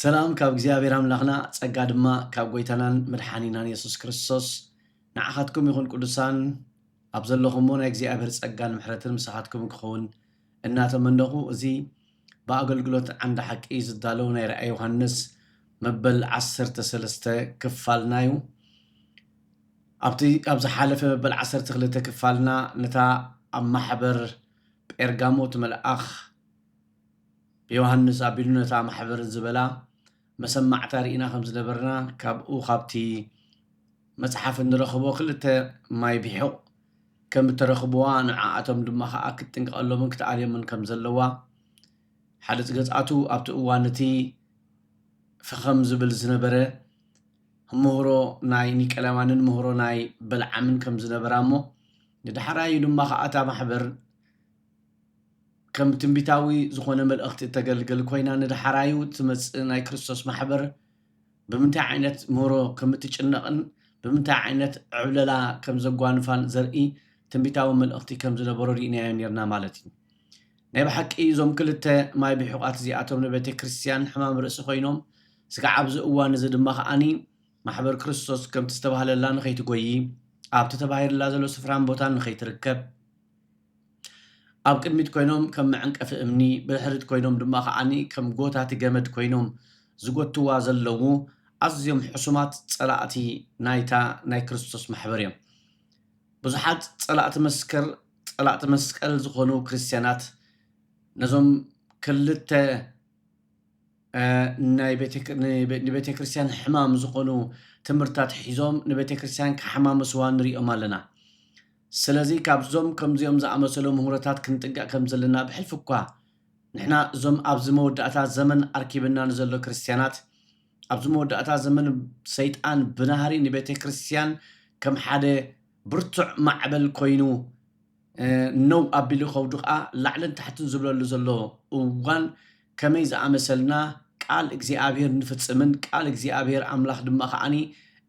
ሰላም ካብ እግዚኣብሔር ኣምላኽና ጸጋ ድማ ካብ ጐይታናን መድሓኒናን የሱስ ክርስቶስ ንዓኻትኩም ይኹን ቅዱሳን ኣብ ዘለኹምዎ ናይ እግዚኣብሔር ጸጋን ምሕረትን ምሳኻትኩም ክኸውን እናተመነኹ እዚ ብኣገልግሎት ዓንዲ ሓቂ ዝዳለው ናይ ራእይ ዮሃንስ መበል ዓሰርተ ሰለስተ ክፋልና እዩ ኣብቲ ኣብ ዝሓለፈ መበል ዓሰርተ ክልተ ክፋልና ነታ ኣብ ማሕበር ጴርጋሞ እቲ መልኣኽ ብዮሃንስ ኣቢሉ ነታ ማሕበር ዝበላ መሰማዕታ ርኢና ከም ዝነበርና ካብኡ ካብቲ መጽሓፍ እንረኽቦ ክልተ ማይ ቢሑቕ ከም እተረኽብዋ ንዓኣቶም ድማ ከኣ ክትጥንቀቐሎምን ክትኣልዮምን ከም ዘለዋ ሓደ ጽገጻቱ ኣብቲ እዋን እቲ ፈኸም ዝብል ዝነበረ ምህሮ ናይ ኒቀላማንን ምህሮ ናይ በልዓምን ከም ዝነበራ እሞ ንዳሕራዩ ድማ ከኣ እታ ማሕበር ከም ትንቢታዊ ዝኾነ መልእኽቲ እተገልግል ኮይና ንደሓራዩ እትመጽእ ናይ ክርስቶስ ማሕበር ብምንታይ ዓይነት ምህሮ ከም እትጭነቕን ብምንታይ ዓይነት ዕብለላ ከም ዘጓንፋን ዘርኢ ትንቢታዊ መልእኽቲ ከም ዝነበሮ ርኢናዮ ኔርና ማለት እዩ። ናይ ብሓቂ እዞም ክልተ ማይ ብሒቋት እዚኣቶም ንቤተ ክርስቲያን ሕማም ርእሲ ኮይኖም ስጋዕ ኣብዚ እዋን እዚ ድማ ከኣኒ ማሕበር ክርስቶስ ከምቲ ዝተባህለላ ንኸይትጎይ ኣብቲ ተባሂልላ ዘሎ ስፍራን ቦታን ንኸይትርከብ ኣብ ቅድሚት ኮይኖም ከም መዕንቀፊ እምኒ ብድሕሪት ኮይኖም ድማ ከኣ ከም ጎታቲ ገመድ ኮይኖም ዝጎትትዋ ዘለዉ ኣዝዮም ሕሱማት ጸላእቲ ናይታ ናይ ክርስቶስ ማሕበር እዮም። ብዙሓት ጸላእቲ መስከር ጸላእቲ መስቀል ዝኾኑ ክርስትያናት ነዞም ክልተ ናይ ንቤተክርስትያን ሕማም ዝኾኑ ትምህርትታት ሒዞም ንቤተክርስትያን ከሓማምስዋ ንሪኦም ኣለና። ስለዚ ካብዞም ከምዚኦም ዝኣመሰሉ ምህሮታት ክንጥንቀቕ ከም ዘለና ብሕልፊ እኳ ንሕና እዞም ኣብዚ መወዳእታ ዘመን ኣርኪብና ንዘሎ ክርስትያናት ኣብዚ መወዳእታ ዘመን ሰይጣን ብናህሪ ንቤተ ክርስትያን ከም ሓደ ብርቱዕ ማዕበል ኮይኑ ነው ኣቢሉ ከውድቓ ላዕልን ታሕትን ዝብለሉ ዘሎ እዋን ከመይ ዝኣመሰልና ቃል እግዚኣብሄር እንፍጽምን ቃል እግዚኣብሄር ኣምላኽ ድማ ከኣ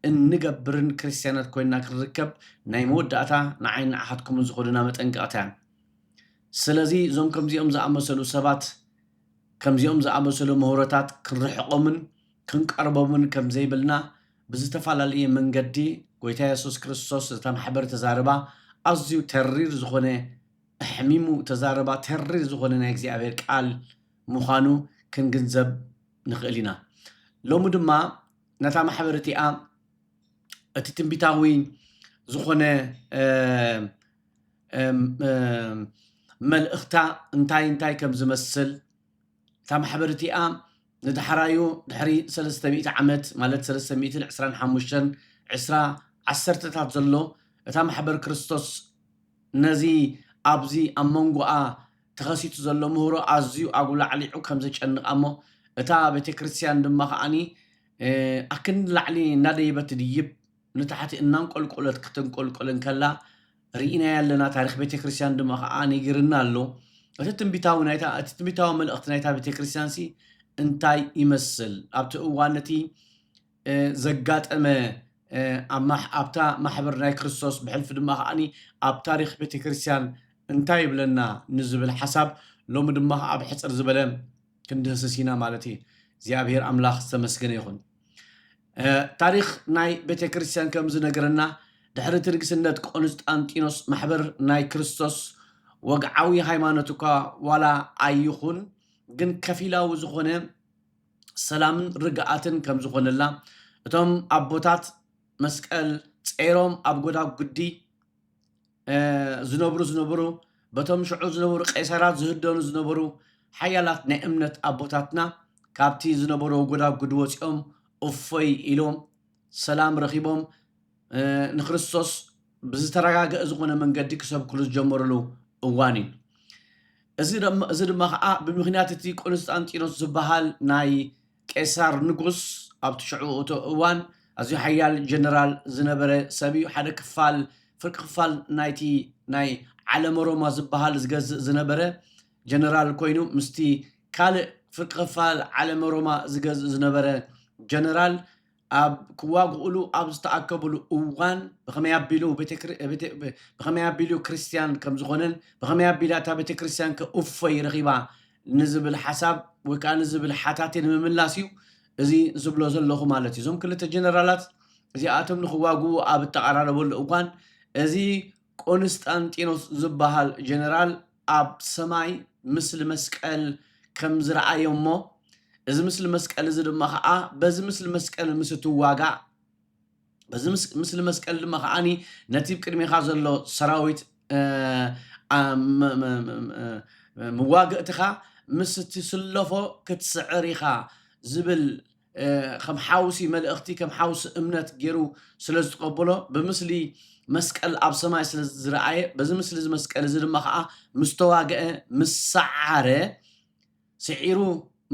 እንገብርን ክርስትያናት ኮይንና ክንርከብ ናይ መወዳእታ ንዓይን ንዓኻትኩምን ዝኾነና መጠንቀቕታ እያ። ስለዚ እዞም ከምዚኦም ዝኣመሰሉ ሰባት ከምዚኦም ዝኣመሰሉ ምህሮታት ክንርሕቆምን ክንቀርቦምን ከም ዘይብልና ብዝተፈላለየ መንገዲ ጎይታ የሱስ ክርስቶስ እታ ማሕበር ተዛርባ ኣዝዩ ተሪር ዝኾነ ኣሕሚሙ ተዛረባ ተሪር ዝኾነ ናይ እግዚኣብሔር ቃል ምዃኑ ክንግንዘብ ንኽእል ኢና። ሎሚ ድማ ነታ ማሕበር እቲኣ እቲ ትንቢታዊ ዝኾነ መልእኽታ እንታይ እንታይ ከም ዝመስል እታ ማሕበር እቲኣ ንዳሕራዩ ድሕሪ ሰለስተ ሚእቲ ዓመት ማለት ሰለስተ ሚእትን ዕስራን ሓሙሽተን ዕስራ ዓሰርተታት ዘሎ እታ ማሕበር ክርስቶስ ነዚ ኣብዚ ኣብ መንጎኣ ተኸሲቱ ዘሎ ምህሮ ኣዝዩ ኣጉላዕሊዑ ከም ዘጨንቓ እሞ እታ ቤተ ክርስቲያን ድማ ከዓኒ ኣክንዲ ላዕሊ እናደየበት ትድይብ ንታሕቲ እናንቆልቆለት ክትንቆልቆል እንከላ ርኢናያ ኣለና፣ ታሪኽ ቤተ ክርስቲያን ድማ ኸዓ ነጊርና ኣሎ። እቲ ትንቢታዊ ናይታ እቲ ትንቢታዊ መልእኽቲ ናይታ ቤተ ክርስቲያንሲ እንታይ ይመስል? ኣብቲ እዋን ነቲ ዘጋጠመ ኣብታ ማሕበር ናይ ክርስቶስ ብሕልፊ ድማ ኸዓኒ ኣብ ታሪኽ ቤተ ክርስቲያን እንታይ ይብለና ንዝብል ሓሳብ ሎሚ ድማ ኣብ ሕፅር ዝበለ ክንድህስስ ኢና ማለት እዩ። እግዚኣብሔር ኣምላኽ ዝተመስገነ ይኹን። ታሪኽ ናይ ቤተ ክርስቲያን ከም ዝነገረና ድሕሪ እቲ ንግስነት ቆንስጣንጢኖስ ማሕበር ናይ ክርስቶስ ወግዓዊ ሃይማኖት እኳ ዋላ ኣይኹን ግን ከፊላዊ ዝኾነ ሰላምን ርግኣትን ከም ዝኾነላ እቶም ኣቦታት መስቀል ጸይሮም ኣብ ጎዳጉዲ ዝነብሩ ዝነበሩ በቶም ሽዑ ዝነበሩ ቄሳራት ዝህደኑ ዝነበሩ ሓያላት ናይ እምነት ኣቦታትና ካብቲ ዝነበሮ ጎዳጉድ ወፂኦም እፎይ ኢሎም ሰላም ረኺቦም ንክርስቶስ ብዝተረጋገአ ዝኾነ መንገዲ ክሰብክሉ ዝጀመሩሉ እዋን እዩ እዚ ድማ ከዓ ብምክንያት እቲ ቆንስጣንጢኖስ ዝበሃል ናይ ቄሳር ንጉስ ኣብቲ ሽዑ እቶ እዋን ኣዝዩ ሓያል ጀነራል ዝነበረ ሰብ እዩ። ሓደ ክፋል ፍርቂ ክፋል ናይቲ ናይ ዓለመ ሮማ ዝበሃል ዝገዝእ ዝነበረ ጀነራል ኮይኑ ምስቲ ካልእ ፍርቂ ክፋል ዓለመ ሮማ ዝገዝእ ዝነበረ ጀነራል ኣብ ክዋግኡሉ ኣብ ዝተኣከቡሉ እዋን ብኸመይ ኣቢሉ ብኸመይ ኣቢሉ ክርስትያን ከም ዝኾነን ብኸመይ ኣቢላ እታ ቤተ ክርስትያን ከ እፎይ ረኺባ ንዝብል ሓሳብ ወይ ከዓ ንዝብል ሓታቴ ንምምላስ እዩ እዚ ዝብሎ ዘለኹ ማለት እዩ እዞም ክልተ ጀነራላት እዚኣቶም ንክዋግኡ ኣብ እተቐራረበሉ እዋን እዚ ቆንስጣንጢኖስ ዝበሃል ጀነራል ኣብ ሰማይ ምስሊ መስቀል ከም ዝረኣየ እሞ እዚ ምስሊ መስቀል እዚ ድማ ኸዓ በዚ ምስሊ መስቀል ምስ እትዋጋእ በዚ ምስሊ መስቀል ድማ ከዓኒ ነቲ ብ ቅድሜኻ ዘሎ ሰራዊት መዋግእትኻ ምስ እትስለፎ ክትስዕር ኢኻ ዝብል ከም ሓውሲ መልእኽቲ ከም ሓውሲ እምነት ገይሩ ስለ ዝተቐበሎ ብምስሊ መስቀል ኣብ ሰማይ ስለ ዝረኣየ በዚ ምስሊ እዚ መስቀል እዚ ድማ ከዓ ምስ ተዋግአ ምስ ሰዓረ ስዒሩ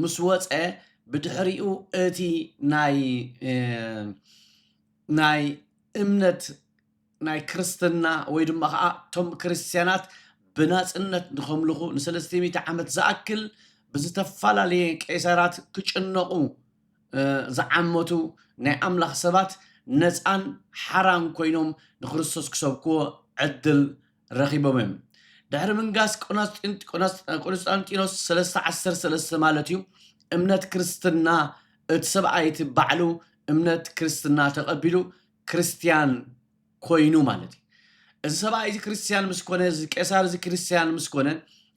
ምስ ወፀ ብድሕሪኡ እቲ ናይ ናይ እምነት ናይ ክርስትና ወይ ድማ ኸኣ እቶም ክርስትያናት ብናጽነት ንኸምልኹ ንሰለስተ ሚእቲ ዓመት ዝኣክል ብዝተፈላለየ ቄሳራት ክጭነቑ ዝዓመቱ ናይ ኣምላኽ ሰባት ነጻን ሓራን ኮይኖም ንክርስቶስ ክሰብክዎ ዕድል ረኺቦም እዮም። ድሕሪ ምንጋስ ቆንስጣንጢኖስ ሰለስተ ዓሰርተ ሰለስተ ማለት እዩ እምነት ክርስትና እቲ ሰብኣይ እቲ ባዕሉ እምነት ክርስትና ተቐቢሉ ክርስትያን ኰይኑ ማለት እዩ። እዚ ሰብኣይ እዚ ክርስትያን ምስ ኰነ፣ እዚ ቄሳር እዚ ክርስትያን ምስ ኰነ፣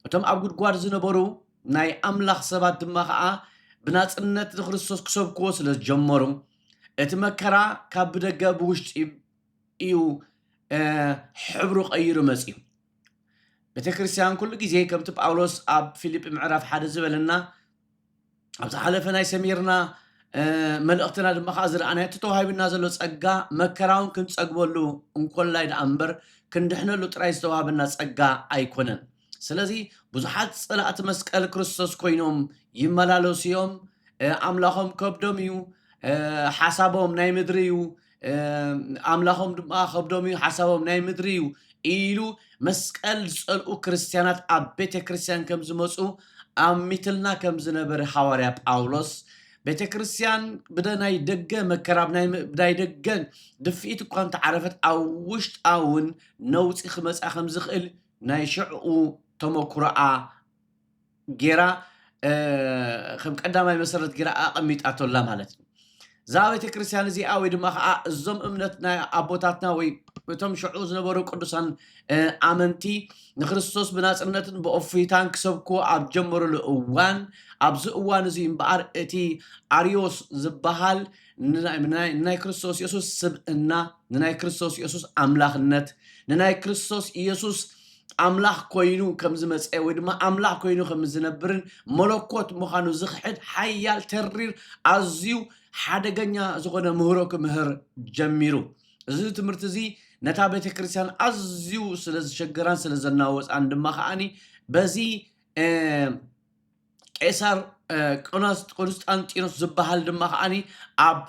እቶም ኣብ ጕድጓድ ዝነበሩ ናይ ኣምላኽ ሰባት ድማ ኸኣ ብናጽነት ንክርስቶስ ክሰብክዎ ስለ ዝጀመሩ፣ እቲ መከራ ካብ ብደገ ብውሽጢ እዩ ሕብሩ ቀይሩ መጺኡ። ቤተ ክርስትያን ኩሉ ግዜ ከምቲ ጳውሎስ ኣብ ፊልጲ ምዕራፍ ሓደ ዝበለና ኣብ ዝሓለፈ ናይ ሰሚርና መልእኽትና ድማ ከዓ ዝረኣናዮ እቲ ተዋሂብና ዘሎ ጸጋ መከራውን ክንጸግበሉ እንኮላይ ደኣ እምበር ክንድሕነሉ ጥራይ ዝተዋህበና ጸጋ ኣይኮነን ስለዚ ብዙሓት ጸላእቲ መስቀል ክርስቶስ ኮይኖም ይመላለሱ እዮም ኣምላኾም ከብዶም እዩ ሓሳቦም ናይ ምድሪ እዩ ኣምላኾም ድማ ከብዶም እዩ ሓሳቦም ናይ ምድሪ እዩ ኢሉ መስቀል ዝጸልኡ ክርስትያናት ኣብ ቤተ ክርስትያን ከም ዝመፁ ኣሚትልና ከም ዝነበረ ሃዋርያ ጳውሎስ ቤተ ክርስትያን ብናይ ደገ መከራ ብናይ ደገ ድፍኢት እኳ እንተዓረፈት ኣብ ውሽጣ እውን ነውፂ ክመፃ ከም ዝኽእል ናይ ሽዕኡ ተመኩሮኣ ጌራ ከም ቀዳማይ መሰረት ጌራ ኣቐሚጣቶ ኣላ ማለት እዩ። እዛ ቤተ ክርስቲያን እዚኣ ወይ ድማ ከዓ እዞም እምነት ናይ ኣቦታትና ወይ እቶም ሽዑ ዝነበሩ ቅዱሳን እ፣ ኣመንቲ ንክርስቶስ ብናጽነትን ብእፎይታን ክሰብኩ ኣብ ጀመሩሉ እዋን ኣብዚ እዋን እዚ እምበኣር እቲ ኣርዮስ ዝበሃል ንናይ ንናይ- ንናይ ክርስቶስ ኢየሱስ ስብእና ንናይ ክርስቶስ ኢየሱስ ኣምላኽነት ንናይ ክርስቶስ ኢየሱስ ኣምላኽ ኰይኑ ከም ዝመጸ ወይ ድማ ኣምላኽ ኰይኑ ከም ዝነብርን መለኮት ምዃኑ ዝኽሕድ ሓያል ተሪር ኣዝዩ ሓደገኛ ዝኾነ ምህሮ ክምህር ጀሚሩ። እዚ ትምህርቲ እዚ ነታ ቤተ ክርስቲያን ኣዝዩ ስለ ዝሸገራን ስለ ዘናወጻን ድማ ከኣኒ በዚ ቄሳር ቆንስጣንጢኖስ ዝበሃል ድማ ከዓኒ ኣብ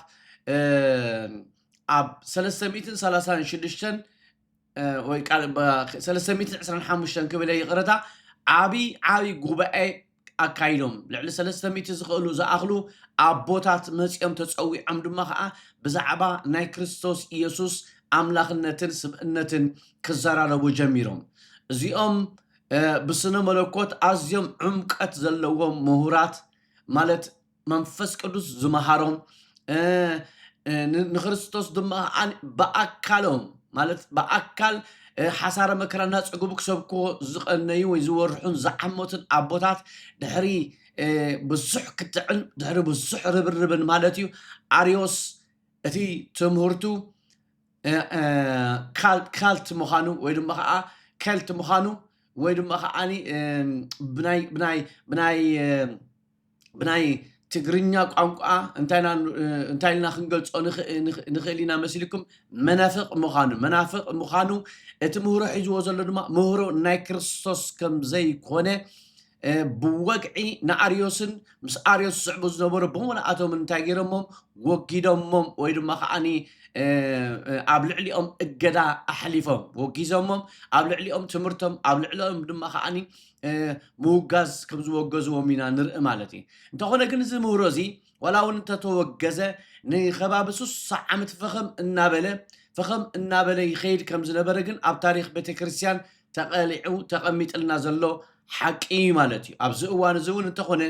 ኣብ ሰለስተ ሚእትን ሰላሳን ሽዱሽተን ወይ ቃል ሰለስተ ሚእትን ዕስራን ሓሙሽተን ክብል ይቕረታ ዓብዪ ዓብዪ ጉባኤ ኣካይዶም ልዕሊ ሰለስተ ሚእቲ ዝኽእሉ ዝኣኽሉ ኣቦታት መፂኦም ተፀዊዖም ድማ ከዓ ብዛዕባ ናይ ክርስቶስ ኢየሱስ ኣምላኽነትን ስብእነትን ክዘራረቡ ጀሚሮም እዚኦም ብስነ መለኮት ኣዝዮም ዕምቀት ዘለዎም ምሁራት ማለት መንፈስ ቅዱስ ዝመሃሮም ንክርስቶስ ድማ ብኣካሎም ማለት ብኣካል ሓሳረ መከራ እናፀገቡ ክሰብኮ ዝቐነዩ ወይ ዝወርሑን ዝዓመቱን ኣቦታት ድሕሪ ብዙሕ ክትዕን ድሕሪ ብዙሕ ርብርብን ማለት እዩ ኣርዮስ እቲ ትምህርቱ ካልት ምዃኑ ወይ ድማ ከዓ ከልት ምዃኑ ወይ ድማ ከዓኒ ብናይ ብናይ ትግርኛ ቋንቋ እንታይ ኢልና ክንገልፆ ንኽእል ኢና መስልኩም? መናፍቕ ምዃኑ መናፍቕ ምዃኑ እቲ ምህሮ ሒዝዎ ዘሎ ድማ ምህሮ ናይ ክርስቶስ ከም ዘይኮነ ብወግዒ ንኣርዮስን ምስ ኣርዮስ ዝስዕቡ ዝነበሩ ብምልኣቶም እንታይ ገይሮሞም ወጊዶሞም ወይ ድማ ከዓኒ ኣብ ልዕሊኦም እገዳ ኣሕሊፎም ወጊዞሞም ኣብ ልዕሊኦም ትምህርቶም ኣብ ልዕሊኦም ድማ ከዓኒ ምውጋዝ ከም ዝወገዝዎም ኢና ንርኢ ማለት እዩ እንተኾነ ግን እዚ ምህሮ እዚ ዋላ እውን እንተተወገዘ ንከባቢ ስሳ ዓመት ፈኸም እናበለ ፈኸም እናበለ ይኸይድ ከም ዝነበረ ግን ኣብ ታሪክ ቤተክርስትያን ተቐሊዑ ተቐሚጥልና ዘሎ ሓቂ እዩ ማለት እዩ ኣብዚ እዋን እዚ እውን እንተኾነ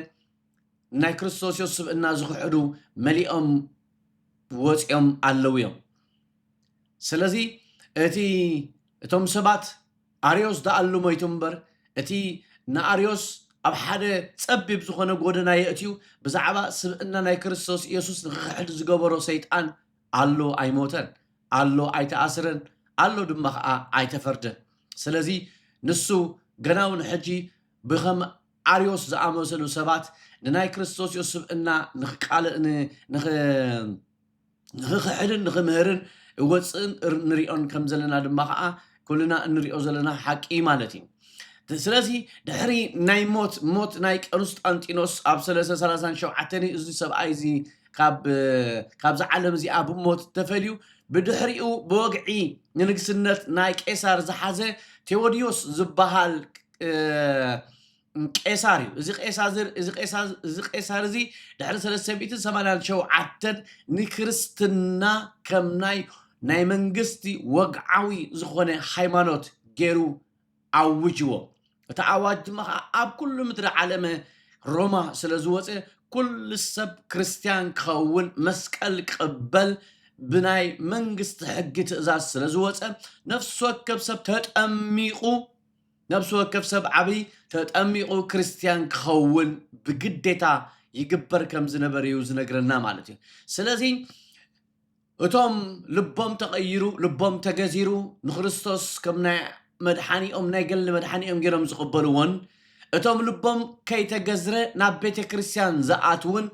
ናይ ክርስቶስ ዮስ ስብእና ዝኽሕዱ መሊኦም ወፂኦም ኣለዉ እዮም ስለዚ እቲ እቶም ሰባት ኣርዮስ ደኣሉ ሞይቱ እምበር እቲ ንኣርዮስ ኣብ ሓደ ጸቢብ ዝኾነ ጎደና የእትዩ ብዛዕባ ስብእና ናይ ክርስቶስ ኢየሱስ ንኽኽሕድ ዝገበሮ ሰይጣን ኣሉ ኣይሞተን ኣሉ ኣይተኣስረን ኣሉ ድማ ኸኣ ኣይተፈርደን ስለዚ ንሱ ገና ውን ሕጂ ብኸም ኣርዮስ ዝኣመሰሉ ሰባት ንናይ ክርስቶስ ኢየሱስ ስብእና ንኽቃል ንኽ ንኽኽሕድን ንኽምህርን እወፅእን ንሪኦን ከም ዘለና ድማ ከዓ ኩልና እንሪኦ ዘለና ሓቂ ማለት እዩ። ስለዚ ድሕሪ ናይ ሞት ሞት ናይ ቀንስጣንጢኖስ ኣብ ሰለስተ ሰላሳን ሸውዓተን እዩ እዚ ሰብኣይ እዚ ካብ ካብዚ ዓለም እዚኣ ብሞት ተፈልዩ ብድሕሪኡ ብወግዒ ንንግስነት ናይ ቄሳር ዝሓዘ ቴዎድዮስ ዝበሃል ቄሳር እዩ። እዚ ቄሳዝር እዚ ቄሳ እዚ ቄሳር እዚ ድሕሪ ሰለስተ ሚእትን ሰማንያን ሸውዓተን ንክርስትና ከም ናይ ናይ መንግስቲ ወግዓዊ ዝኾነ ሃይማኖት ገይሩ ኣውጅዎ። እቲ ኣዋጅ ድማ ኸኣ ኣብ ኩሉ ምድሪ ዓለመ ሮማ ስለ ዝወጸ ኩሉ ሰብ ክርስትያን ክኸውን መስቀል ክቕበል ብናይ መንግስቲ ሕጊ ትእዛዝ ስለ ዝወጸ ነፍሲ ወከፍ ሰብ ተጠሚቑ ነፍሲ ወከፍ ሰብ ዓቢ ተጠሚቑ ክርስትያን ክኸውን ብግዴታ ይግበር ከም ዝነበረ እዩ ዝነግረና ማለት እዩ። ስለዚ እቶም ልቦም ተቐይሩ ልቦም ተገዚሩ ንክርስቶስ ከም ናይ መድሓኒኦም ናይ ገሊ መድሓኒኦም ገይሮም ዝቕበልዎን እቶም ልቦም ከይተገዝረ ናብ ቤተ ክርስትያን ዝኣትውን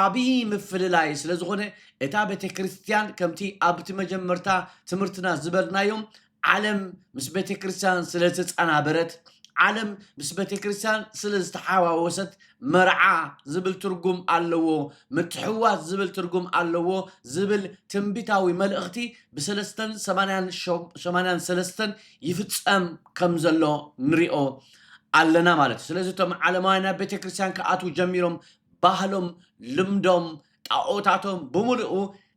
ዓብዪ ምፍልላይ ስለ ዝኾነ እታ ቤተ ክርስትያን ከምቲ ኣብቲ መጀመርታ ትምህርትና ዝበልናዮም ዓለም ምስ ቤተ ክርስቲያን ስለ ዝተጸናበረት፣ ዓለም ምስ ቤተ ክርስቲያን ስለ ዝተሓዋወሰት፣ መርዓ ዝብል ትርጉም ኣለዎ፣ ምትሕውዋስ ዝብል ትርጉም ኣለዎ ዝብል ትንቢታዊ መልእኽቲ ብሰለስተን ሰማንያን ሰማንያን ሰለስተን ይፍጸም ከም ዘሎ ንሪኦ ኣለና ማለት እዩ። ስለዚ እቶም ዓለማውያን ናብ ቤተ ክርስቲያን ክኣትዉ ጀሚሮም ባህሎም ልምዶም ጣኦታቶም ብምሉኡ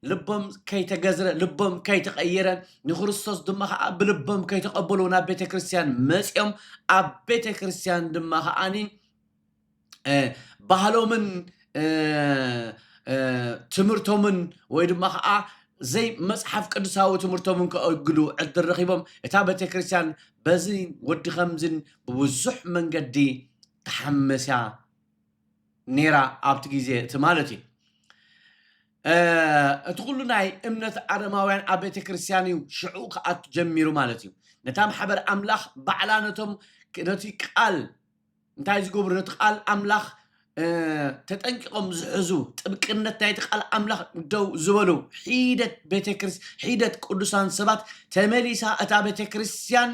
ልቦም ከይተገዝረ ልቦም ከይተቐየረ ንክርስቶስ ድማ ከዓ ብልቦም ከይተቐበሉ ናብ ቤተ ክርስቲያን መፂኦም ኣብ ቤተ ክርስቲያን ድማ ከዓኒ ባህሎምን ትምህርቶምን ወይ ድማ ከዓ ዘይ መፅሓፍ ቅዱሳዊ ትምህርቶምን ከእግዱ ዕድል ረኺቦም እታ ቤተ ክርስቲያን በዚ ወዲ ከምዝን ብብዙሕ መንገዲ ተሓመስያ ኔራ ኣብቲ ግዜ እቲ ማለት እዩ። እቲ ኩሉ ናይ እምነት ኣረማውያን ኣብ ቤተ ክርስቲያን እዩ ሽዑ ክኣቱ ጀሚሩ ማለት እዩ። ነታ ማሕበር ኣምላኽ ባዕላ ነቶም ነቲ ቃል እንታይ ዝገብሩ ነቲ ቃል ኣምላኽ ተጠንቂቖም ዝሕዙ ጥብቅነት ናይቲ ቃል ኣምላኽ ደው ዝበሉ ሒደት ቤተክርስ ሒደት ቅዱሳን ሰባት ተመሊሳ እታ ቤተ ክርስቲያን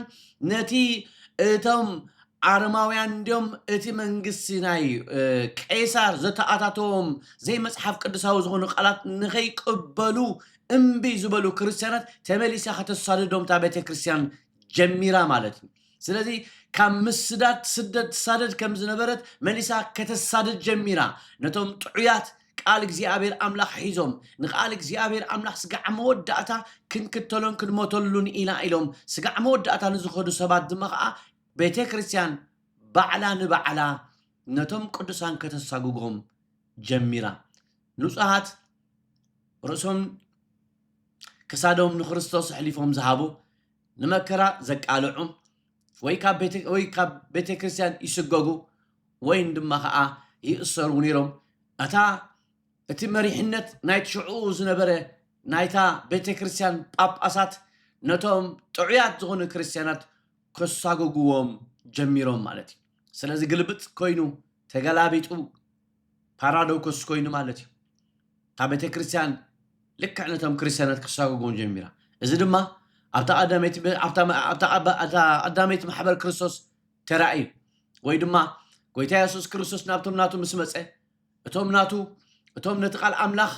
ነቲ እቶም ኣረማውያን እንድዮም እቲ መንግስቲ ናይ ቄሳር ዘተኣታተዎም ዘይመጽሓፍ ቅዱሳዊ ዝኾኑ ቃላት ንኸይቅበሉ እምቢ ዝበሉ ክርስትያናት ተመሊሳ ከተሳድዶም እታ ቤተ ክርስትያን ጀሚራ ማለት እዩ ስለዚ ካብ ምስዳድ ትስደድ ትሳደድ ከም ዝነበረት መሊሳ ከተሳድድ ጀሚራ ነቶም ጥዑያት ቃል እግዚኣብሔር ኣምላኽ ሒዞም ንቃል እግዚኣብሔር ኣምላኽ ስጋዕ መወዳእታ ክንክተሎን ክንሞተሉን ኢና ኢሎም ስጋዕ መወዳእታ ንዝኸዱ ሰባት ድማ ከዓ ቤተ ክርስቲያን ባዕላ ንባዕላ ነቶም ቅዱሳን ከተሳጉጎም ጀሚራ። ንጹሃት ርእሶም ክሳዶም ንክርስቶስ ኣሕሊፎም ዝሃቡ፣ ንመከራ ዘቃልዑ፣ ወይ ካብ ቤተ ክርስቲያን ይስጎጉ ወይን ድማ ኸዓ ይእሰሩ ነይሮም። እታ እቲ መሪሕነት ናይ ሽዕኡ ዝነበረ ናይታ ቤተ ክርስቲያን ጳጳሳት ነቶም ጥዑያት ዝኾኑ ክርስቲያናት ከሳጉጉዎም ጀሚሮም ማለት እዩ። ስለዚ ግልብጥ ኮይኑ ተገላቢጡ ፓራዶክስ ኮይኑ ማለት እዩ። እታ ቤተ ክርስቲያን ልክዕ ነቶም ክርስቲያናት ክሳጉጉዎም ጀሚራ። እዚ ድማ ኣብታ ቀዳመይቲ በ- ኣብታ መ- ኣብታ ቀባ- ኣብታ ቀዳመይቲ ማሕበር ክርስቶስ ተራእዩ ወይ ድማ ጎይታ የሱስ ክርስቶስ ናብቶም ናቱ ምስ መጸ እቶም ናቱ እቶም ነቲ ቃል ኣምላኽ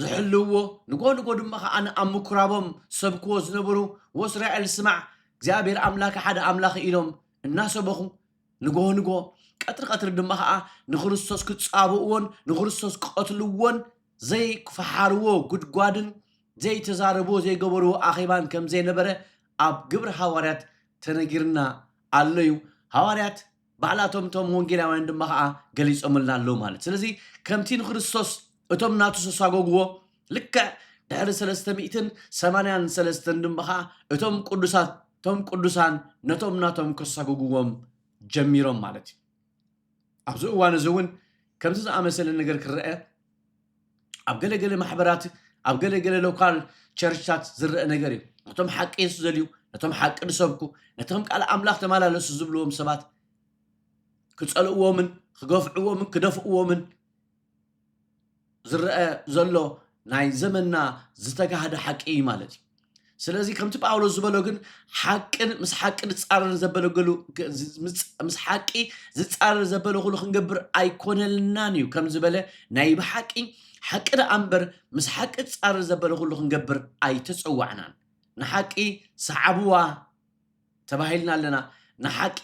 ዝሕልውዎ ንጎ ንጎ ድማ ከኣ ኣብ ምኩራቦም ዝሰብክዎ ዝነበሩ ወእስራኤል ስማዕ እግዚኣብሔር ኣምላከ ሓደ ኣምላክ ኢሎም እናሰበኹ ንጎ ንጎ ቀትሪ ቀትሪ ድማ ከኣ ንክርስቶስ ክጻብእዎን ንክርስቶስ ክቀትልዎን ዘይክፈሓርዎ ጉድጓድን ዘይተዛረብዎ ዘይገበርዎ ኣኼባን ከምዘይነበረ ኣብ ግብሪ ሃዋርያት ተነጊርና ኣሎዩ ሃዋርያት ባዕላቶም እቶም ወንጌላውያን ድማ ኸኣ ገሊጾምልና ኣለዉ ማለት ስለዚ ከምቲ ንክርስቶስ እቶም ናቱ ሰሳጎግዎ ልክዕ ድሕሪ ሰለስተ ሚእትን ሰማንያን ሰለስተን ድማ ኸኣ እቶም ቅዱሳት እቶም ቅዱሳን ነቶም ናቶም ከሳጎግዎም ጀሚሮም ማለት እዩ ኣብዚ እዋን እዚ እውን ከምዚ ዝኣመሰለ ነገር ክረአ ኣብ ገለ ገለ ማሕበራት ኣብ ገለ ገለ ሎካል ቸርችታት ዝረአ ነገር እዩ ነቶም ሓቂ የሱ ዘልዩ ነቶም ሓቂ ዝሰብኩ ነቶም ቃል ኣምላኽ ተመላለሱ ዝብልዎም ሰባት ክጸልእዎምን ክገፍዕዎምን ክደፍእዎምን ዝረአ ዘሎ ናይ ዘመንና ዝተጋህደ ሓቂ እዩ ማለት እዩ ስለዚ ከምቲ ጳውሎስ ዝበሎ ግን ሓቅን ምስ ሓቂ ዝፃረር ዘበለገሉ ምስ ሓቂ ዝፃረር ዘበለ ኩሉ ክንገብር ኣይኮነልናን እዩ ከም ዝበለ ናይ ብሓቂ ሓቂ ደኣ እምበር ምስ ሓቂ ዝፃረር ዘበለ ኩሉ ክንገብር ኣይተፀዋዕናን ንሓቂ ሰዓብዋ ተባሂልና ኣለና ንሓቂ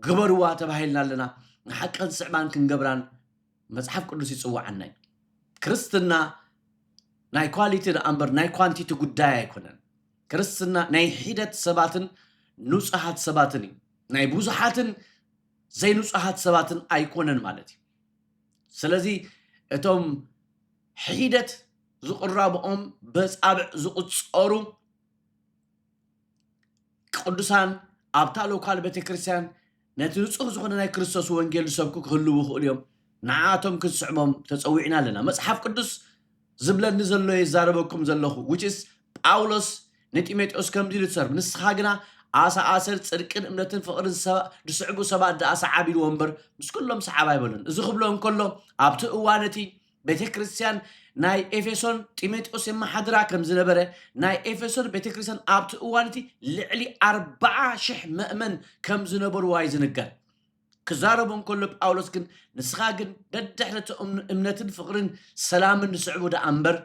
ግበርዋ ተባሂልና ኣለና ንሓቂ ክንስዕባን ክንገብራን መጽሓፍ ቅዱስ ይጽውዓና እዩ። ክርስትና ናይ ኳሊቲ ደኣ እምበር ናይ ኳንቲቲ ጉዳይ ኣይኮነን። ክርስትና ናይ ሒደት ሰባትን ንጹሃት ሰባትን እዩ። ናይ ብዙሓትን ዘይንጹሃት ሰባትን ኣይኮነን ማለት እዩ። ስለዚ እቶም ሒደት ዝቕረብኦም በጻብዕ ዝቑጸሩ ቅዱሳን ኣብታ ሎካል ቤተክርስትያን ነቲ ንጹህ ዝኹነ ናይ ክርስቶስ ወንጌል ዝሰብኩ ክህልዉ ይኽእሉ እዮም፣ ንዓኣቶም ክንስዕሞም ተጸዊዕና ኣለና። መጽሓፍ ቅዱስ ዝብለኒ ዘሎ እየ ዝዛረበኩም ዘለኹ፣ which is ጳውሎስ ንጢሞቴዎስ ከምዚ ኢሉ ትሰርብ፣ ንስኻ ግና ኣሳ ኣሰር ጽድቅን እምነትን ፍቕርን ዝስዕቡ ሰባት ደኣ ሰዓብ ኢልዎ እምበር ምስ ኩሎም ሰዓብ ኣይበሎን። እዚ ክብሎ እንከሎ ኣብቲ እዋን እቲ ቤተ ክርስቲያን ናይ ኤፌሶን ጢሞቴዎስ የመሓድራ ከም ዝነበረ ናይ ኤፌሶን ቤተ ክርስቲያን ኣብቲ እዋን እቲ ልዕሊ ኣርባዓ ሽሕ መእመን ከም ዝነበርዋ እዩ ዝንገር ክዛረቦ እንከሎ ጳውሎስ ግን ንስኻ ግን ደድሕሪ እቲ እምነትን ፍቕርን ሰላምን ዝስዕቡ ደኣ እምበር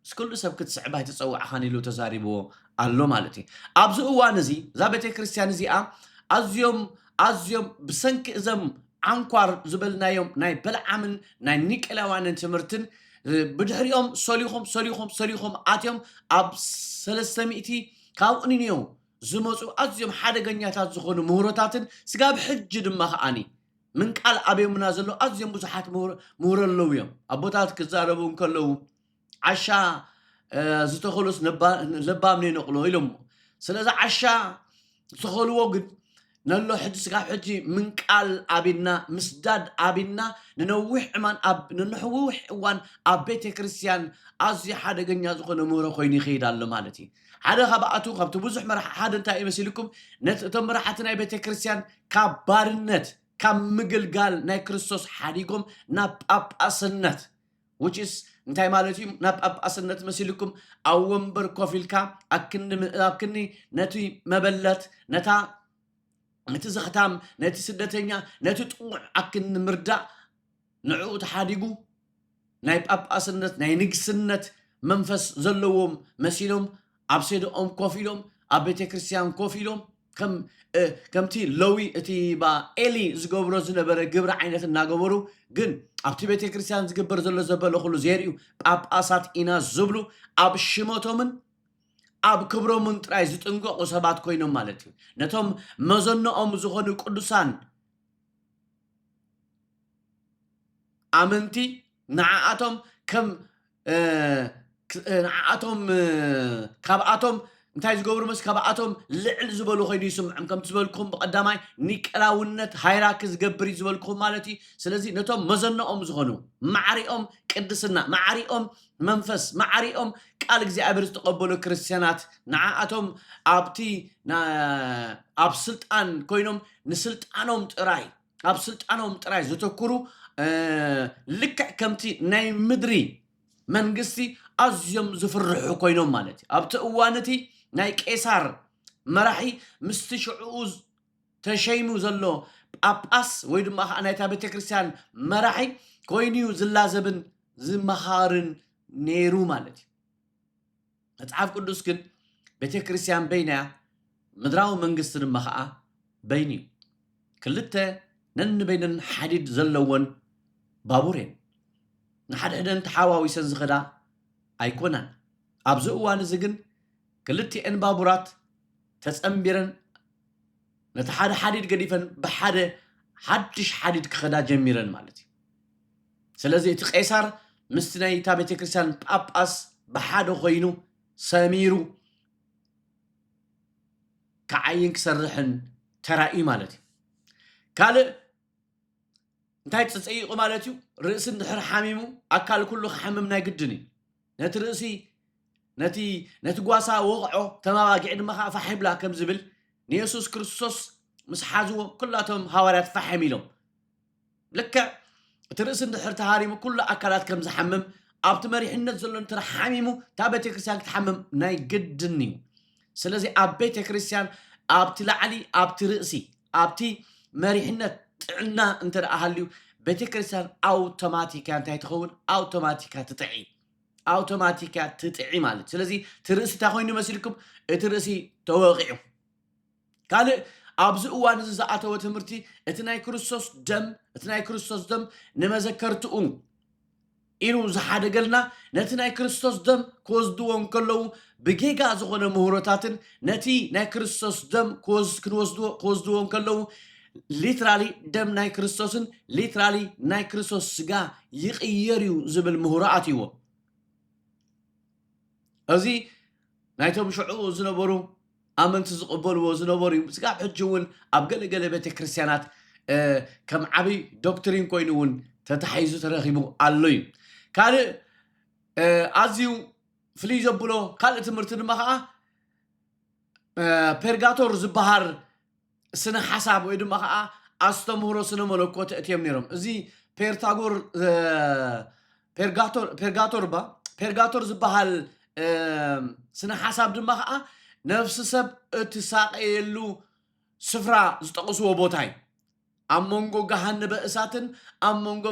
ምስ ኩሉ ሰብ ክትስዕብ ኣይተጸዋዕኻን ኢሉ ተዛሪብዎ ኣሎ ማለት እዩ። ኣብዚ እዋን እዚ እዛ ቤተ ክርስቲያን እዚኣ ኣዝዮም ኣዝዮም ብሰንኪ እዘም ዓንኳር ዝበልናዮም ናይ በልዓምን ናይ ኒቄላውያንን ትምህርትን ብድሕሪኦም ሰሊኾም ሰሊኾም ሰሊኾም ኣትዮም ኣብ ሰለስተ ሚእቲ ካብ ኒንዮ ዝመፁ ኣዝዮም ሓደገኛታት ዝኾኑ ምህሮታትን ስጋብ ሕጂ ድማ ከዓኒ ምንቃል ኣብዮምና ዘለዉ ኣዝዮም ብዙሓት ምሁሮ ኣለዉ እዮም። ኣቦታት ክዛረቡ እንከለዉ ዓሻ ዝተኸሎስ ለባም ነይነቕሎ ኢሎሞ ስለዚ ዓሻ ዝተኸልዎ ግን ነሎ ሕጂ ስጋብ ሕጂ ምንቃል ኣብና ምስዳድ ኣብና ንነዊሕ ዕማን ኣብ ንንሕውሕ እዋን ኣብ ቤተ ክርስቲያን ኣዝዩ ሓደገኛ ዝኾነ ምህሮ ኮይኑ ይኸይድ ኣሎ ማለት እዩ ሓደ ካብኣቱ ካብቲ ብዙሕ መራሒ ሓደ እንታይ እዩ መሲልኩም ነቲ እቶም መራሕቲ ናይ ቤተ ክርስቲያን ካብ ባርነት ካብ ምግልጋል ናይ ክርስቶስ ሓዲጎም ናብ ጳጳስነት which is እንታይ ማለት እዩ ናብ ጳጳስነት መሲልኩም ኣብ ወንበር ኮፍ ኢልካ ኣብ ክንዲ ምእባብ ክኒ ነቲ መበለት ነታ ነቲ ዘኽታም ነቲ ስደተኛ ነቲ ጥዑዕ ኣክኒ ምርዳእ ንዕኡ ተሓዲጉ ናይ ጳጳስነት ናይ ንግስነት መንፈስ ዘለዎም መሲሎም ኣብ ሴደኦም ኮፍ ኢሎም ኣብ ቤተ ክርስትያን ኮፍ ኢሎም ከም ከምቲ ለዊ እቲ ባ ኤሊ ዝገብሮ ዝነበረ ግብሪ ዓይነት እናገበሩ ግን ኣብቲ ቤተ ክርስትያን ዝግበር ዘሎ ዘበለ ኩሉ ዘርእዩ ጳጳሳት ኢና ዝብሉ ኣብ ሽመቶምን ኣብ ክብሮምን ጥራይ ዝጥንቀቑ ሰባት ኮይኖም ማለት እዩ ነቶም መዘነኦም ዝኾኑ ቅዱሳን ኣመንቲ ንዓኣቶም ከም ንዓኣቶም ካብኣቶም እንታይ ዝገብሩ መስ ካብኣቶም ልዕል ዝበሉ ኮይኑ ይስምዖም ከምቲ ዝበልኩም ብቀዳማይ ኒቀላውነት ሃይራኪ ዝገብር እዩ ዝበልኩም ማለት እዩ ስለዚ ነቶም መዘነኦም ዝኾኑ ማዕሪኦም ቅድስና ማዕሪኦም መንፈስ ማዕሪኦም ቃል እግዚኣብሔር ዝተቐበሉ ክርስትያናት ንዓኣቶም ኣብቲ ኣብ ስልጣን ኮይኖም ንስልጣኖም ጥራይ ኣብ ስልጣኖም ጥራይ ዘተኩሩ ልክዕ ከምቲ ናይ ምድሪ መንግስቲ ኣዝዮም ዝፍርሑ ኮይኖም ማለት እዩ ኣብቲ እዋን እቲ ናይ ቄሳር መራሒ ምስቲ ሽዕኡ ተሸይሙ ዘሎ ጳጳስ ወይ ድማ ከኣ ናይታ ቤተክርስትያን መራሒ ኮይኑ እዩ ዝላዘብን ዝመሃርን ነይሩ ማለት እዩ። መጽሓፍ ቅዱስ ግን ቤተክርስትያን በይና እያ፣ ምድራዊ መንግስቲ ድማ ከኣ በይኑ እዩ። ክልተ ነንበይነን ሓዲድ ዘለወን ባቡር እየን። ንሓድሕደን ተሓዋዊሰን ዝኸዳ ኣይኮናን። ኣብዚ እዋን እዚ ግን ክልቲኤን ባቡራት ተጸንቢረን ነቲ ሓደ ሓዲድ ገዲፈን ብሓደ ሓድሽ ሓዲድ ክኸዳ ጀሚረን ማለት እዩ። ስለዚ እቲ ቄሳር ምስቲ ናይታ ቤተ ክርስቲያን ጳጳስ ብሓደ ኮይኑ ሰሚሩ ክዓይን ክሰርሕን ተራእዩ ማለት እዩ። ካልእ እንታይ ተፀይቑ ማለት እዩ ርእሲ እንድሕር ሓሚሙ ኣካል ኩሉ ክሓምም ናይ ግድን እዩ ነቲ ርእሲ ነቲ ነቲ ጓሳ ወቕዖ፣ እተን ኣባጊዕ ድማ ኸኣ ፋሕ ይብላ ከም ዝብል፣ ንየሱስ ክርስቶስ ምስ ሓዝዎ ኩላ እቶም ሃዋርያት ፋሕም ኢሎም። ልክዕ እቲ ርእሲ እንድሕር ተሃሪሙ ኩሉ ኣካላት ከም ዝሓምም ኣብቲ መሪሕነት ዘሎ እንተ ሓሚሙ እታ ቤተ ክርስቲያን ክትሓምም ናይ ግድን እዩ። ስለዚ ኣብ ቤተ ክርስቲያን ኣብቲ ላዕሊ ኣብቲ ርእሲ ኣብቲ መሪሕነት ጥዕና እንተ ደኣ ሃልዩ ቤተ ክርስቲያን ኣውቶማቲክ እያ እንታይ ትኸውን ኣውቶማቲክ እያ ትጥዒ ኣውቶማቲክ እያ ትጥዒ ማለት ስለዚ እቲ ርእሲ እንታይ ኮይኑ መሲልኩም እቲ ርእሲ ተወቂዑ ካልእ ኣብዚ እዋን እዚ ዝኣተወ ትምህርቲ እቲ ናይ ክርስቶስ ደም እቲ ናይ ክርስቶስ ደም ንመዘከርትኡ ኢሉ ዝሓደገልና ነቲ ናይ ክርስቶስ ደም ክወስድዎ እንከለዉ ብጌጋ ዝኾነ ምህሮታትን ነቲ ናይ ክርስቶስ ደም ክወስ ክንወስድዎ ክወስድዎ እንከለዉ ሊትራሊ ደም ናይ ክርስቶስን ሊትራሊ ናይ ክርስቶስ ስጋ ይቕየር እዩ ዝብል ምህሮ ኣትይዎ እዚ ናይቶም ሽዑ ዝነበሩ ኣመንቲ ዝቕበልዎ ዝነበሩ እዩ። ስጋብ ሕጂ እውን ኣብ ገለ ገለ ቤተ ክርስቲያናት ከም ዓብይ ዶክትሪን ኮይኑ እውን ተታሒዙ ተረኺቡ ኣሎ እዩ። ካልእ ኣዝዩ ፍልይ ዘብሎ ካልእ ትምህርቲ ድማ ከዓ ፔርጋቶር ዝበሃል ስነ ሓሳብ ወይ ድማ ከኣ ኣስተምህሮ ስነ መለኮት እትዮም ነይሮም እዚ ፔርታጎር ፔርጋቶር ፔርጋቶር ባ ፔርጋቶር ዝበሃል ስነ ሓሳብ ድማ ከዓ ነፍሲ ሰብ እትሳቀየሉ ስፍራ ዝጠቕስዎ ቦታ እዩ ኣብ መንጎ ገሃንበ እሳትን ኣብ መንጎ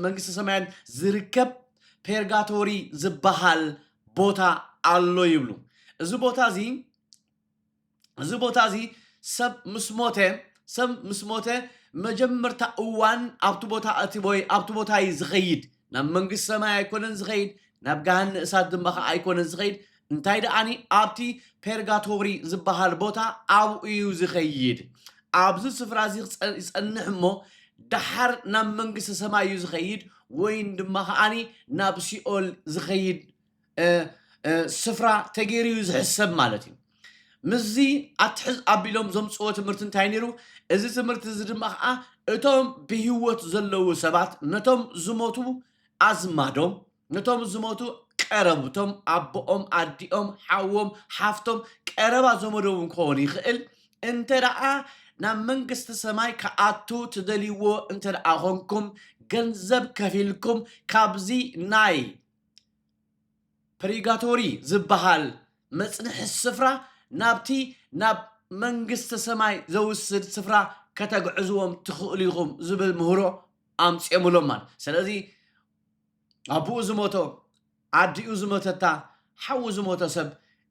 መንግስተ ሰማያን ዝርከብ ፔርጋቶሪ ዝበሃል ቦታ ኣሎ ይብሉ እዚ ቦታ እዚ እዚ ቦታ እዚ ሰብ ምስ ሞተ ሰብ ምስ ሞተ መጀመርታ እዋን ኣብቲ ቦታ እቲ ወይ ኣብቲ ቦታ እዩ ዝኸይድ ናብ መንግስቲ ሰማይ ኣይኮነን ዝኸይድ ናብ ገሃነ እሳት ድማ ከዓ ኣይኮነን ዝኸይድ እንታይ ደኣኒ ኣብቲ ፔርጋቶሪ ዝበሃል ቦታ ኣብኡ እዩ ዝኸይድ ኣብዚ ስፍራ እዚ ክፀ- ይፀንሕ እሞ ደሓር ናብ መንግስተ ሰማይ እዩ ዝኸይድ ወይን ድማ ከዓኒ ናብ ሲኦል ዝኸይድ ስፍራ ተገይሩ እዩ ዝሕሰብ ማለት እዩ ምስዚ ኣትሕዝ ኣቢሎም ዘምፅዎ ትምህርቲ እንታይ ነይሩ እዚ ትምህርቲ እዚ ድማ ከዓ እቶም ብህወት ዘለዉ ሰባት ነቶም ዝሞቱ ኣዝማዶም ነቶም ዝሞቱ ቀረብቶም ኣቦኦም ኣዲኦም ሓዎም ሓፍቶም ቀረባ ዘመዶም እውን ክኸውን ይኽእል እንተ ደኣ ናብ መንግስቲ ሰማይ ክኣቱ ትደልይዎ እንተ ደኣ ኾንኩም ገንዘብ ከፊልኩም ካብዚ ናይ ፐሪጋቶሪ ዝበሃል መጽንሒ ስፍራ ናብቲ ናብ መንግስተ ሰማይ ዘውስድ ስፍራ ከተግዕዝዎም ትኽእሉ ኢኹም ዝብል ምህሮ ኣምፅኦምሎም ማለት ስለዚ ኣቦኡ ዝሞቶ ኣዲኡ ዝሞተታ ሓዉ ዝሞተ ሰብ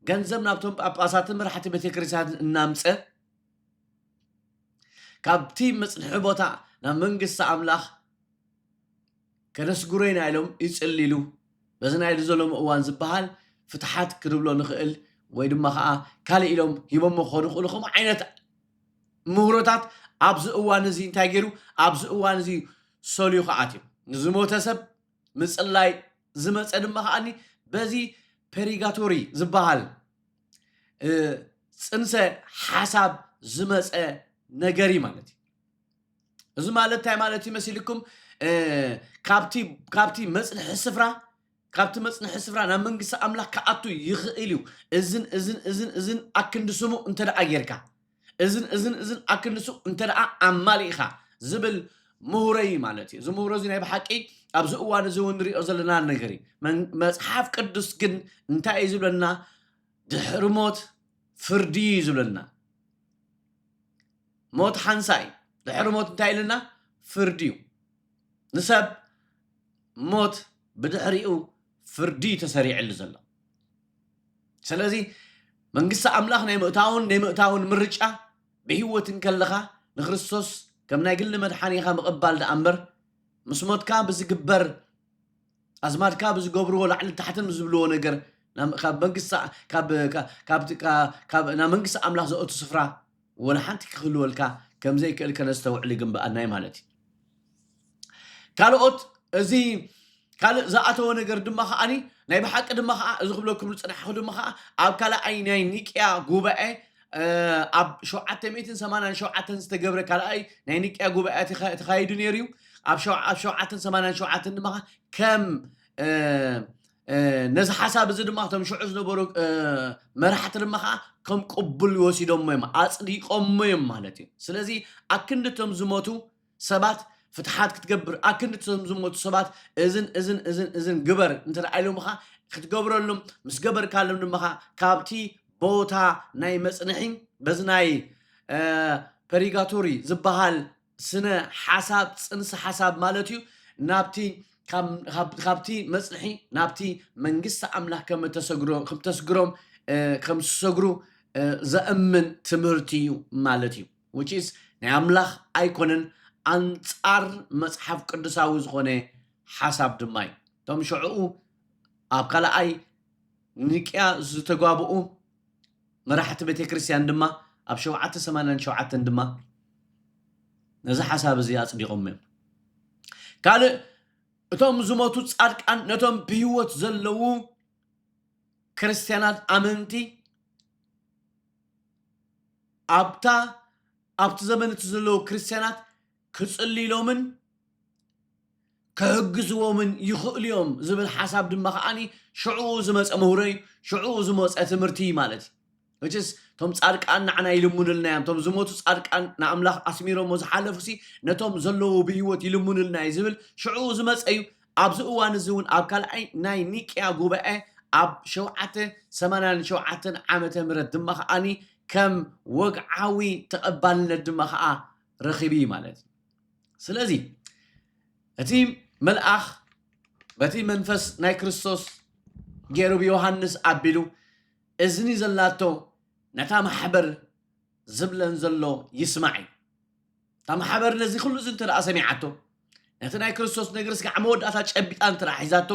ገንዘብ ናብቶም ጳጳሳትን መራሕቲ ቤተክርስትያንን እናምፀ ካብቲ መፅንሒ ቦታ ናብ መንግስቲ ኣምላኽ ከነስግሮ ኢና ኢሎም ይጽልሉ። በዚ ናይ እዚ ሎሚ እዋን ዝበሃል ፍትሓት ክንብሎ ንኽእል ወይ ድማ ከኣ ካልእ ኢሎም ሂቦሞ ክኸዱ ይኽእሉ ከምኡ ዓይነት ምህሮታት ኣብዚ እዋን እዚ እንታይ ገይሩ ኣብዚ እዋን እዚ ሰልዩ ክኣትዩ ንዝሞተ ሰብ ምጽላይ ዝመጸ ድማ ከኣኒ በዚ ፐሪጋቶሪ ዝበሃል ጽንሰ ሓሳብ ዝመጸ ነገር እዩ ማለት እዩ። እዚ ማለት እንታይ ማለት እዩ መሲልኩም ካብቲ ካብቲ መፅንሒ ስፍራ ካብቲ መፅንሒ ስፍራ ናብ መንግስቲ ኣምላኽ ክኣቱ ይኽእል እዩ እዝን እዝን እዝን እዝን ኣክንዲ ስሙ እንተ ደኣ ጌርካ እዝን እዝን እዝን ኣክንዲ ስሙ እንተ ደኣ ኣማሊእኻ ዝብል ምሁረ እዩ ማለት እዩ እዚ ምሁረ እዚ ናይ ብሓቂ ኣብዚ እዋን እዚ እውን ንሪኦ ዘለና ነገር እዩ መን- መፅሓፍ ቅዱስ ግን እንታይ እዩ ዝብለና ድሕሪ ሞት ፍርዲ እዩ ዝብለና ሞት ሓንሳእ እዩ። ድሕሪ ሞት እንታይ ኢሉና? ፍርዲ እዩ። ንሰብ ሞት ብድሕሪኡ ፍርዲ እዩ ተሰሪዕሉ ዘሎ። ስለዚ መንግስቲ ኣምላኽ ናይ ምእታውን ናይ ምእታውን ምርጫ ብህይወት እንከለኻ ንክርስቶስ ከም ናይ ግሊ መድሓኒኻ ምቕባል ደኣ እምበር ምስ ሞትካ ብዝግበር ኣዝማድካ ብዝገብርዎ ላዕልን ታሕትን ምስ ዝብልዎ ነገር ናብ ካብ መንግስቲ ካብ ካ- ካብቲ ካ- ካብ ናብ መንግስቲ ኣምላኽ ዘእቱ ስፍራ ወላ ሓንቲ ክህልወልካ ከም ዘይክእል ከነስተውዕል ይግንበኣና እዩ ማለት እዩ። ካልኦት እዚ ካልእ ዝኣተወ ነገር ድማ ከዓኒ ናይ ብሓቂ ድማ ከዓ እዚ ክብለኩም ዝጸናሕኩ ድማ ከዓ ኣብ ካልኣይ ናይ ኒቅያ ጉባኤ ኣብ ሸውዓተ ሚእትን ሰማንያን ሸውዓተን ዝተገብረ ካልኣይ ናይ ንቅያ ጉባኤያት ይኸ- ተኻይዱ ነይሩ እዩ ኣብ ሸው- ኣብ ሸውዓተን ሰማንያን ሸውዓተን ድማ ከም እ፣ እ፣ ነዚ ሓሳብ እዚ ድማ እቶም ሽዑ ዝነበሩ እ፣ መራሕቲ ድማ ከዓ ከም ቅቡል ወሲዶሞ እዮም ኣፅዲቆሞ እዮም ማለት እዩ ስለዚ ኣክንዲ እቶም ዝሞቱ ሰባት ፍትሓት ክትገብር ኣክንዲ እቶም ዝሞቱ ሰባት እዝን እዝን እዝን እዝን ግበር እንተደኣ ኢሎምኻ ክትገብረሎም ምስ ገበርካሎም ድማ ካብቲ ቦታ ናይ መጽንሒ በዚ ናይ ፐሪጋቶሪ ዝበሃል ስነ ሓሳብ ጽንሰ ሓሳብ ማለት እዩ ናብቲ ካብቲ መጽንሒ ናብቲ መንግስቲ ኣምላኽ ከም ተሰግሮ ከም ተስግሮም ከም ዝሰግሩ ዘእምን ትምህርቲ እዩ ማለት እዩ which is ናይ ኣምላኽ ኣይኮነን ኣንጻር መጽሓፍ ቅዱሳዊ ዝኾነ ሓሳብ ድማ እዩ እቶም ሸዑኡ ኣብ ካልኣይ ኒቅያ ዝተጓብኡ መራሕቲ ቤተ ክርስቲያን ድማ ኣብ ሸውዓተ ሰማንያን ሸውዓተን ድማ ነዚ ሓሳብ እዚ ኣጽዲቖም እዮም ካልእ እቶም ዝሞቱ ጻድቃን ነቶም ብህይወት ዘለዉ ክርስትያናት ኣመንቲ ኣብታ ኣብቲ ዘመን እቲ ዘለዉ ክርስትያናት ክጽልይሎምን ክሕግዝዎምን ይኽእሉ እዮም ዝብል ሓሳብ ድማ ከዓኒ ሽዑኡ ዝመጸ ምህሮ እዩ ሽዑኡ ዝመጸ ትምህርቲ እዩ ማለት እዩ መቸስ እቶም ጻድቃን ንዓና ይልሙንልና እዮም እቶም ዝሞቱ ጻድቃን ንኣምላኽ ኣስሚሮሞ ዝሓለፉሲ ነቶም ዘለዉ ብህይወት ይልሙንልና እዩ ዝብል ሽዑኡ ዝመጸ እዩ ኣብዚ እዋን እዚ እውን ኣብ ካልኣይ ናይ ኒቅያ ጉባኤ ኣብ ሸውዓተ ሰማንያን ሸውዓተን ዓመተ ምህረት ድማ ከኣ ከም ወግዓዊ ተቐባልነት ድማ ከኣ ረኺቡ እዩ ማለት እዩ። ስለዚ እቲ መልኣኽ በቲ መንፈስ ናይ ክርስቶስ ገይሩ ብዮሃንስ ኣቢሉ እዝኒ ዘላቶ ነታ ማሕበር ዝብለን ዘሎ ይስማዕ እዩ። እታ ማሕበር ነዚ ኩሉ እዚ እንተ ሰሚዓቶ ነቲ ናይ ክርስቶስ ነገር ስጋዕ መወዳእታ ጨቢጣ እንተ ሒዛቶ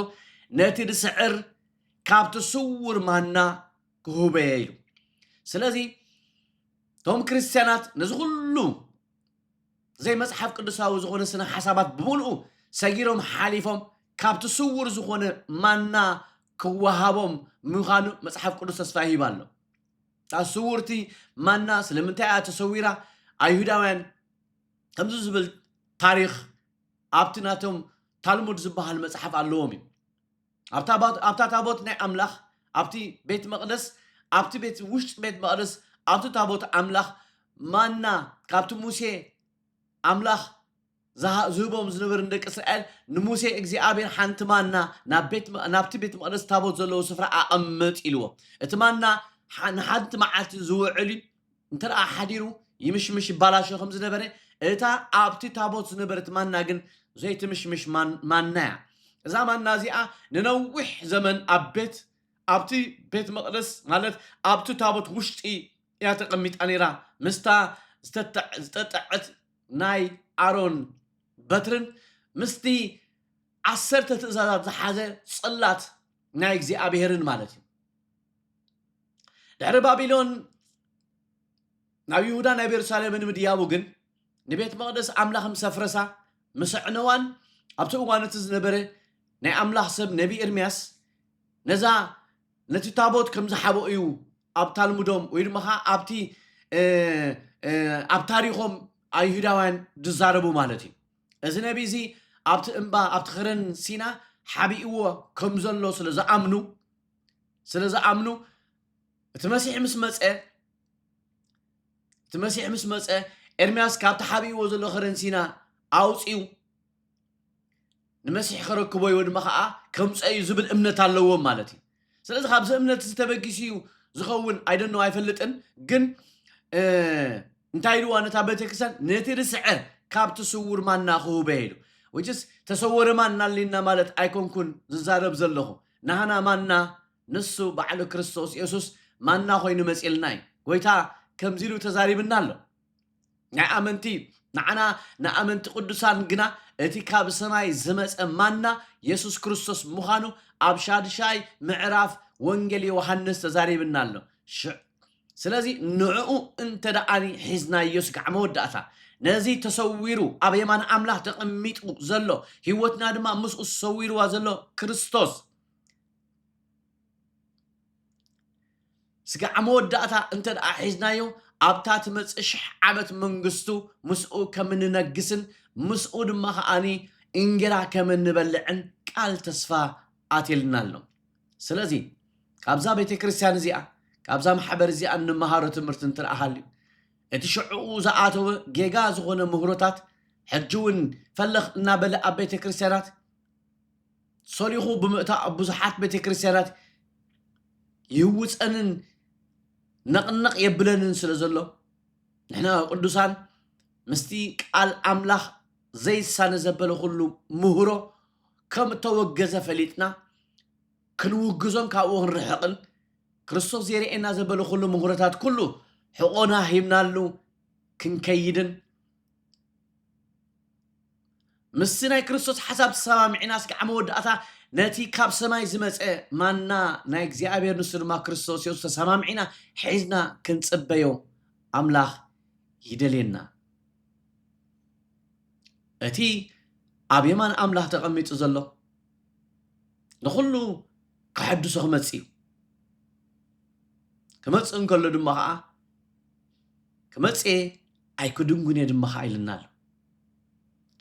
ነቲ ዝስዕር ካብቲ ስውር ማና ክሁበየ ኢሉ ስለዚ እቶም ክርስትያናት ነዚ ኩሉ ዘይ መጽሓፍ ቅዱሳዊ ዝኾነ ስነ ሓሳባት ብምልኡ ሰጊሮም ሓሊፎም ካብቲ ስውር ዝኾነ ማና ክወሃቦም ምዃኑ መጽሓፍ ቅዱስ ተስፋ ይሂብ ኣሎ እታ ስውርቲ ማና ስለምንታይ እያ ተሰዊራ? ኣይሁዳውያን ከምዚ ዝብል ታሪኽ ኣብቲ ናቶም ታልሙድ ዝበሃል መጽሓፍ ኣለዎም እዩ። ኣብታ ታቦት ናይ ኣምላኽ ኣብቲ ቤት መቕደስ ኣብቲ ቤት ውሽጢ ቤት መቕደስ ኣብቲ ታቦት ኣምላኽ ማና ካብቲ ሙሴ ኣምላኽ ዝህቦም ዝነበረ ንደቂ እስራኤል፣ ንሙሴ እግዚኣብሄር ሓንቲ ማና ናብ ቤት ናብቲ ቤት መቕደስ ታቦት ዘለዎ ስፍራ ኣቐምጥ ኢልዎ። እቲ ማና ንሓንቲ መዓልቲ ዝውዕል እዩ፣ እንተ ሓዲሩ ይምሽምሽ ይባላሾ ከም ዝነበረ፣ እታ ኣብቲ ታቦት ዝነበረት ማና ግን ዘይትምሽምሽ ማና እያ። እዛ ማና እዚኣ ንነዊሕ ዘመን ኣብ ቤት ኣብቲ ቤት መቕደስ ማለት ኣብቲ ታቦት ውሽጢ እያ ተቐሚጣ ነይራ ምስታ ዝተጠዐት ናይ ኣሮን በትርን ምስቲ ዓሰርተ ትእዛዛት ዝሓዘ ጽላት ናይ እግዚኣብሔርን ማለት እዩ ድሕሪ ባቢሎን ናብ ይሁዳ ናብ የሩሳሌምን ምድያቡ ግን ንቤት መቕደስ ኣምላኽ ምስ ኣፍረሳ ምስ ኣዕነዋን ኣብቲ እዋን እቲ ዝነበረ ናይ ኣምላኽ ሰብ ነቢ ኤርምያስ ነዛ ነቲ ታቦት ከም ዝሓበኦ እዩ ኣብ ታልሙዶም ወይ ድማ ከ ኣብቲ ኣብ ታሪኾም ኣይሁዳውያን ዝዛረቡ ማለት እዩ እዚ ነቢ እዚ ኣብቲ እምባ ኣብቲ ኸረን ሲና ሓቢእዎ ከም ዘሎ ስለ ዝኣምኑ ስለ ዝኣምኑ እቲ መሲሕ ምስ መፀ እቲ መሲሕ ምስ መፀ ኤርምያስ ካብቲ ሓቢእዎ ዘሎ ኸረን ሲና ኣውፅኡ ንመሲሕ ከረክቦ እዩ ድማ ከዓ ከምፀ እዩ ዝብል እምነት ኣለዎም ማለት እዩ ስለዚ ካብዚ እምነት እዚ ተበጊሱ እዩ ዝኸውን ኣይደኖ ኣይፈልጥን ግን እንታይ ኢልዋ ነታ ቤተክርስትያን ነቲ ርስዐ ካብቲ ስውር ማና ክህበ ኢሉ ውጭስ ተሰወረ ማና ኣሊና ማለት ኣይኮንኩን ዝዛረብ ዘለኹ ናህና ማና ንሱ ባዕሉ ክርስቶስ የሱስ ማና ኮይኑ መፅልና እዩ ጎይታ ከምዚ ኢሉ ተዛሪብና ኣሎ ናይ ኣመንቲ እዩ ንዓና ንኣመንቲ ቅዱሳን ግና እቲ ካብ ሰማይ ዝመጸ ማና የሱስ ክርስቶስ ምዃኑ ኣብ ሻድሻይ ምዕራፍ ወንጌል ዮሃንስ ተዛሪብና ኣሎ ሽዕ ስለዚ ንዕኡ እንተ ደኣኒ ሒዝናዮ ስጋዕ መወዳእታ ነዚ ተሰዊሩ ኣብ የማን ኣምላኽ ተቐሚጡ ዘሎ ህይወትና ድማ ምስኡ ሰዊርዋ ዘሎ ክርስቶስ ስጋዕ መወዳእታ እንተ ደኣ ሒዝናዮ፣ ኣብታ ትመጽእ ሽሕ ዓመት መንግስቱ ምስኡ ከም እንነግስን ምስኡ ድማ ኸኣ እንጌራ ከም እንበልዕን ቃል ተስፋ ኣትዩልና ኣሎ። ስለዚ ካብዛ ቤተ ክርስቲያን እዚኣ፣ ካብዛ ማሕበር እዚኣ እንመሃሮ ትምህርቲ እንተ ደኣ ሃልዩ፣ እቲ ሽዕኡ ዝኣተወ ጌጋ ዝኾነ ምህሮታት ሕጂ እውን ፈለኽ እናበለ ኣብ ቤተ ክርስቲያናት፣ ሰሊኹ ብምእታው ኣብ ብዙሓት ቤተ ክርስቲያናት ይህውፀንን ነቕነቕ የብለንን ስለ ዘሎ ንሕና ቅዱሳን ምስቲ ቃል ኣምላኽ ዘይሳነ ዘበለ ኩሉ ምህሮ ከም እተወገዘ ፈሊጥና ክንውግዞን ካብኡ ክንርሕቕን ክርስቶስ ዜርእየና ዘበለ ኩሉ ምህሮታት ኩሉ ሕቖና ሂብናሉ ክንከይድን ምስቲ ናይ ክርስቶስ ሓሳብ ተሰማሚዕና እስኪ ኣብ መወዳእታ ነቲ ካብ ሰማይ ዝመፀ ማና ናይ እግዚኣብሔር ንሱ ድማ ክርስቶስ የሱስ ተሰማሚዕና ሒዝና ክንፅበዮ ኣምላኽ ይደልየና እቲ ኣብ የማን ኣምላኽ ተቐሚጡ ዘሎ ንኹሉ ከሐድሶ ክመፅ እዩ ክመፅእ እንከሎ ድማ ከዓ ክመጽእ እየ ኣይክድንጉን እየ ድማ ከዓ ኢልና ኣሎ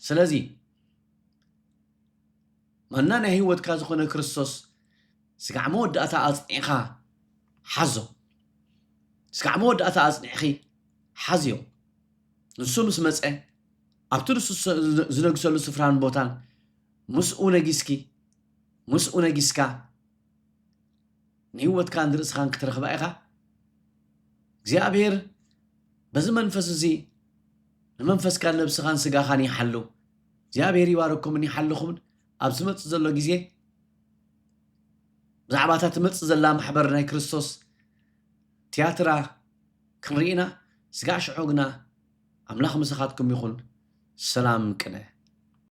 ስለዚ ማና ናይ ህይወትካ ዝኾነ ክርስቶስ ስጋዕ መወዳእታ ኣጽኒዕኻ ሓዞ ስጋዕ መወዳእታ ኣጽኒዕኺ ሓዝዮ ንሱ ምስ መፀ ኣብቲ ንሱ ዝነግሰሉ ስፍራን ቦታን ምስኡ ነጊስኪ ምስኡ ነጊስካ ንህይወትካን ንርእስኻን ክትረኽባ ኢኻ። እግዚኣብሄር በዚ መንፈስ እዚ ንመንፈስካን ነብስኻን ስጋኻን ይሓሉ። እግዚኣብሄር ይባረኩምን ይሓልኹምን ኣብ ዝመጽእ ዘሎ ግዜ ብዛዕባ እታ ትመጽእ ዘላ ማሕበር ናይ ክርስቶስ ትያትራ ክንርኢና ስጋዕ ሽዑ ግና ኣምላኽ ምሳኻትኩም ይኹን ሰላም ቅነ